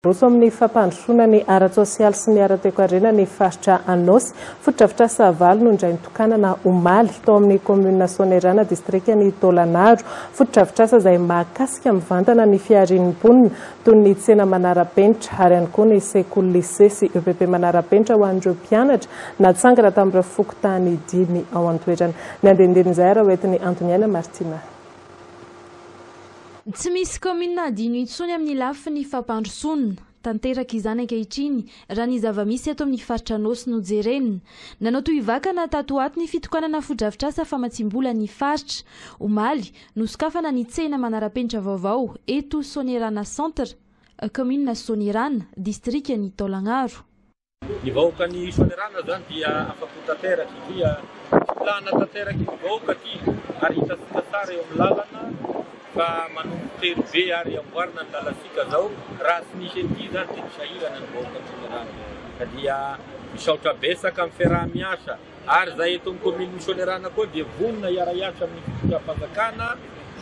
Roso amin'ny fampandrosoana ny ara-tsosialy sy ny ara-toekarena ny faritra Anôsy. Fotodrafitrasa valo no indray nitokanana omaly, tao amin'ny kaominina Soanierana, distrikan'i Taolagnaro. Fotodrafitrasa izay mahakasika mivantana ny fiharian'ny mponina, toy ny tsena manara-penitra, ary ihany koa ny sekoly, lisea sy EPP manara-penitra ho an'ireo mpianatra natsangana tamin'ireo fokontany dimy ao an-toerana. Ny andinindinin'izay ary hoentin'i Antoniaina Martina. Tsy misy kaominina hadino intsony amin'ny lafiny fampandrosoana. Tanteraka izany ankehitriny, raha ny zava-misy eto amin'ny faritra Anôsy no jerena. Nanao tohivakana tato ho ato ny fitokanana fotodrafitrasa famatsiam-bola ny faritra. Omaly, nosokafana ny tsena manara-penitra vaovao eto Soanierana Centre, kaominina Soanierana, distrikan'i Taolagnaro. Ny vahoakan'ny Soanierana izany dia afa-po tanteraka satria filàna tanteraka io vahoaka ity ary hitantsika tsara eo amin'ny làlana fa manomboka tery be ary amboarina ny làlantsika izao, raha tsy misy an'ity izany dia ho sahirana ny vahoakan'ny Soanierana. Ka dia misaotra betsaka amin'ny fiaraha-miasa ary izahay eto amin'ny kaominin'ny Soanierana koa dia vonona hiara-hiasa amin'ny fitondram-panjakana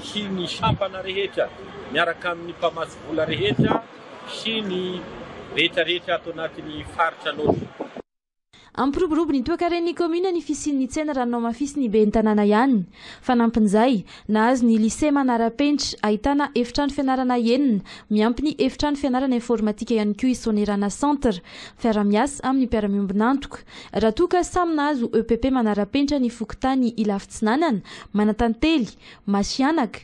sy ny sampana rehetra miaraka amin'ny mpamatsy vola rehetra, sy ny rehetrarehetra ato anatin'ny faritra Anôsy. Hampiroborobo ny toekaren'ny kaominina ny fisian'ny tsena raha ny namafisin'ny ben'ny tanàna ihany. Fanampin'izay, nahazo ny Lycée manara-penitra, ahitana efitrano fianarana enina, miampy ny efitrano fianarana informatika ihany koa i Soanierana Centre, miara-miasa amin'ny mpiara-miombon'antoka. Raha toa ka samy nahazo EPP manara-penitra ny fokontany Ilafy Tsinanana, Manantantely, Masihanaka,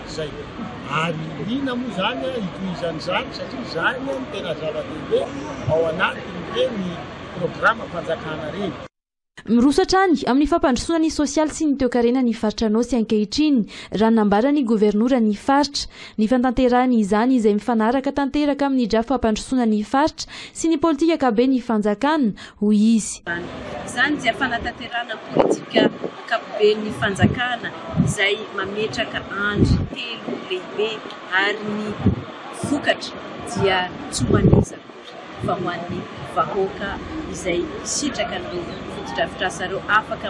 izay. Ary inona moa izany an hitohizana izany satria izany no tena zava-dehibe ao anatiny hoe ny programam-panjakana reny. Miroso hatrany amin'ny fampandrosoana ny sosialy sy ny toekarena ny faritra Anôsy ankehitriny raha ny nambaran'ny governora ny faritra. Ny fantanterahany izany izay mifanaraka tanteraka amin'ny drafim-pampandrosoana ny faritra sy ny politikakabe ny fanjakana hoy izy. Izany dia fanatanterahana ny politika ankapoben'ny fanjakana izay mametraka andry telo lehibe ary ny vokatra dia tsy ho an'iza akory fa ho an'ny vahoaka izay hisitraka an'ireo fotodrafitrasa ireo, afaka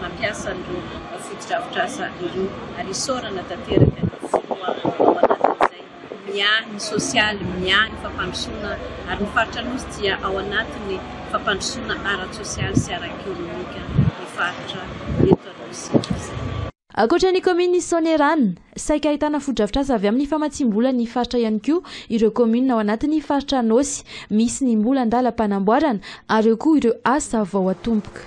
mampiasa an'ireo fotodrafitrasa ireo ary isaorana tanteraka ny filoha ao anatin'izay. miahy ny sosialy, miahy ny fampandrosoana ary ny faritra Anosy dia ao anatin'ny fampandrosoana ara-tsosialy sy ara-ekonomika ny faritra eto Anosy izay. Ankoatra ny kaominin'i Soanierana, saika ahitana fotodrafitrasa avy amin'ny famatsiam-bola ny faritra ihany koa ireo kaominina ao anatin'ny faritra Anosy misy ny mbola an-dalam-panamboarana ary eo koa ireo asa vao atomboka.